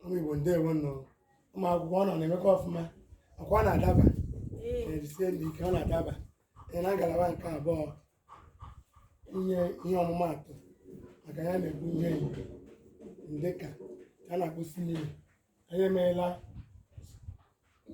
ụmụ Igbo ndewo nụ ụmụ akwụkwọ unu na-emekwa ọfụma ọkwa na-adaba jisie nụ ike ọ na-adaba ị na ngalaba nke abụọ inye ihe ọmụmaatụ maka ihe m na-ekwu ihe ndịka a na-akpọ simile anyị emeela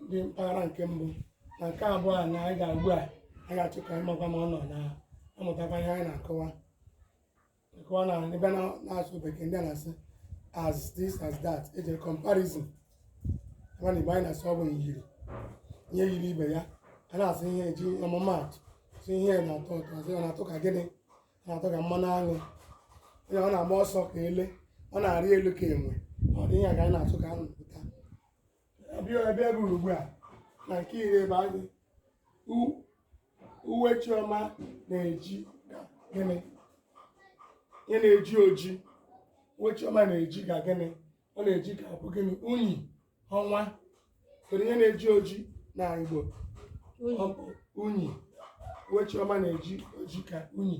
ndị mpaghara nke mbụ na nke abụọ anyị na-aga ugbu a anyị ga-achọ ka anyị makwa ma unu na-amụtakwa ihe anyị na-akọwa Nke ọ na ebe a na-asụ bekee ndị na-asị as this as that eji eme comparison ebe na igbo anyị na-asị ọ bụ myiri ihe yiri ibe ya a na-asị ihe eji ọmụmaatụ sị ihe na-atọ ụtọ asị ọ na-atọ ka gịnị ọ na-atọ ka mmanụ aṅụ onye ọ na-agba ọsọ ka ele ọ na-arị elu ka enwe ụdị ihe a ka anyị na-achọ ka unu na-amụta abịa ebe e ruru ugbu a na nke iri ebe anyị uwe chioma na-eji ka gịnị ihe na-eji oji uwe chioma na-eji ka gịnị ọ na-eji ka ọ bụ gịnị unyi ọnwa kedu ihe na-eji oji na igbo ọ bụ unyi uwe chioma na-eji oji ka unyi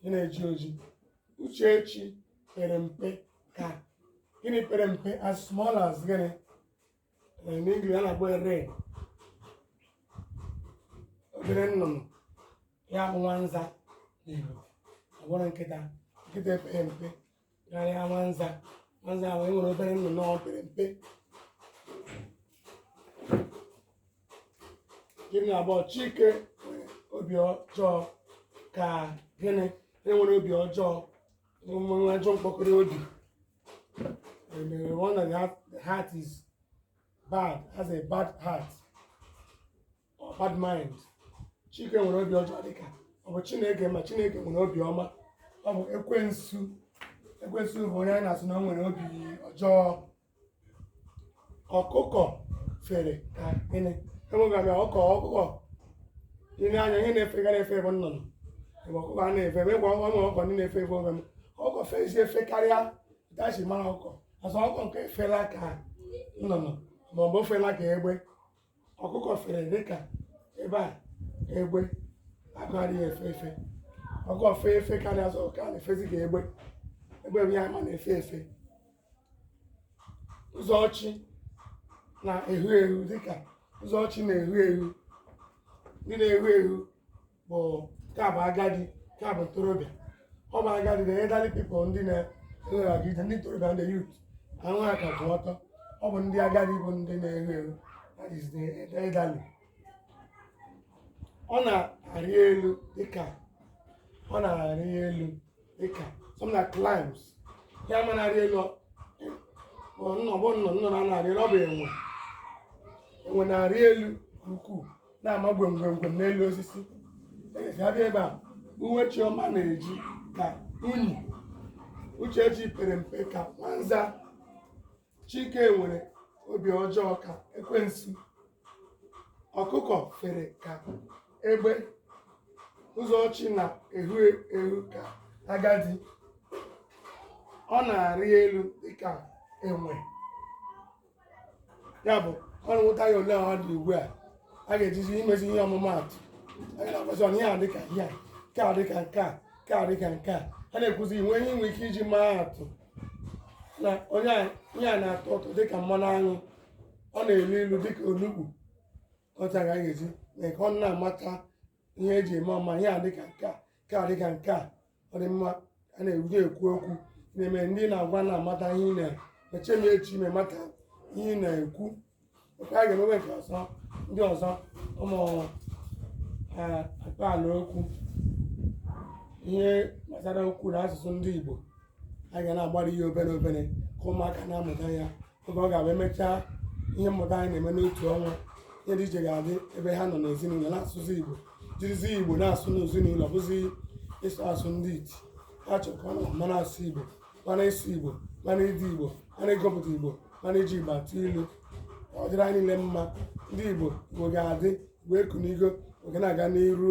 ihe na-eji oji uchechi pere mpe ka gịnị pere mpe as small as gịnị in English a na-akpọ wren obere nnụnụ ya bụ nwanza n'Igbo abụghị nkịta nkịta epeghị mpe karịa nwanza nwanza bụ wren obere nnụnụ ọ pere mpe iri na abụọ chike nwere obi ọjọọ ka gịnị enwere obi ọjọọ nwee ajọ mkpụrụ obi emere one of the heart is bad has a bad heart bad mind chike nwere obi ọjọọ dịka ọ bụ chineke mba chineke nwere obi ọma ọ bụ ekwensu ekwensu bụ onye anyị na-asị na ọ nwere obi ọjọọ ọkụkọ fere ka gịnị enweghị ọkụkọ ọkụkọ ile anya ihe na-efega na-efe efe nnụnụ egbe ọkụkọ a na-efe efe ngwa ọnwa ọkụkọ ndị na-efe efe ọ bụrụ na ọkụkọ fezi efe karịa ka eji mara ọkụkọ asị ọkụkọ nke a efela ka nnụnụ ma ọ bụ o fela ka egbe ọkụkọ fere dịka ebe a egbe ga-akarị ya efe efe ọkụkọ fee efe karịa asị ọkụkọ a na-efezi ka egbe egbe bụ ihe a ma na-efe efe ụzọchi na-ehu ehu dịka ụzọchi na-ehu ehu gịnị na-ehu ehu bụ nke a bụ agadi nke a bụ ntorobịa ọ bụ agadi the elderly people ndị na-elere aga ije ndị ntorobịa ndị youth ahụ ha ka kwụ ọtọ ọ bụ ndị agadi bụ ndị na-eru eru that is the elderly ọ na-arị elu dịka ọ na-arị elu dịka someone climbs ya ma na-arị elu ọ- ọ nnọ bụ nnọ nnọ na na-arị elu ọ bụ enwe enwe na-arị elu nke ukwuu na-ama gwemgwemgwem n'elu osisi a bịa ebe a uwe chioma na-eji ka unyi uchechi pere mpe ka nwanza chike nwere obi ọjọọ ka ekwensu ọkụkọ fere ka egbe ụzọchi na-ehu ehu ka agadi ọ na-arị elu dịka enwe ya bụ unu mụta ya ole ọ dị ugbu a a ga-ejizi imezi ihe ọmụmaatụ a ga-akwasị ọnụ ya dịka ihe a nke a dịka nke a nke a dịka nke a a na-ekwuzi inwe ihe inwe ike iji maa atụ na onye a ihe a na-atọ ụtọ dịka mmanụ aṅụ ọ na-elu ilu dịka onugbu otu a ka a ga-eji mee ka ọ na-amata ihe e ji eme ọ ma ihe a dịka nke a nke a dịka nke a ọ dị mma a na-eji ekwu okwu na-eme ndị ị na-agwa na-amata ihe ị na-eche n'echiche ma mata ihe ị na-ekwu nke a ga-emewe nke ọzọ ndị ọzọ ụmụ eh, akpaalaokwu ihe gbasara okwu na asụsụ ndị Igbo a ga na-agbari ya obere obere ka ụmụaka na-amụta ya oge ọ ga-abụ e mechaa ihe mmụta anyị na-eme n'otu ọnwa ihe dị iche ga-adị ebe ha nọ n'ezinụlọ na-asụzi igbo jirizi igbo na-asụ n'ezinụlọ bụzi ịsụ asụ ndị iti ha chọrọ ka ọ nọ ma na-asụ igbo ma n'ịsụ igbo ma n'ide igbo ma n'ịgụpụta igbo ma n'iji igbo atụ ilu ọ dịrị anyị niile mma ndị igbo igbo ga-adị igbo ekunigo ọ ga na-aga n'iru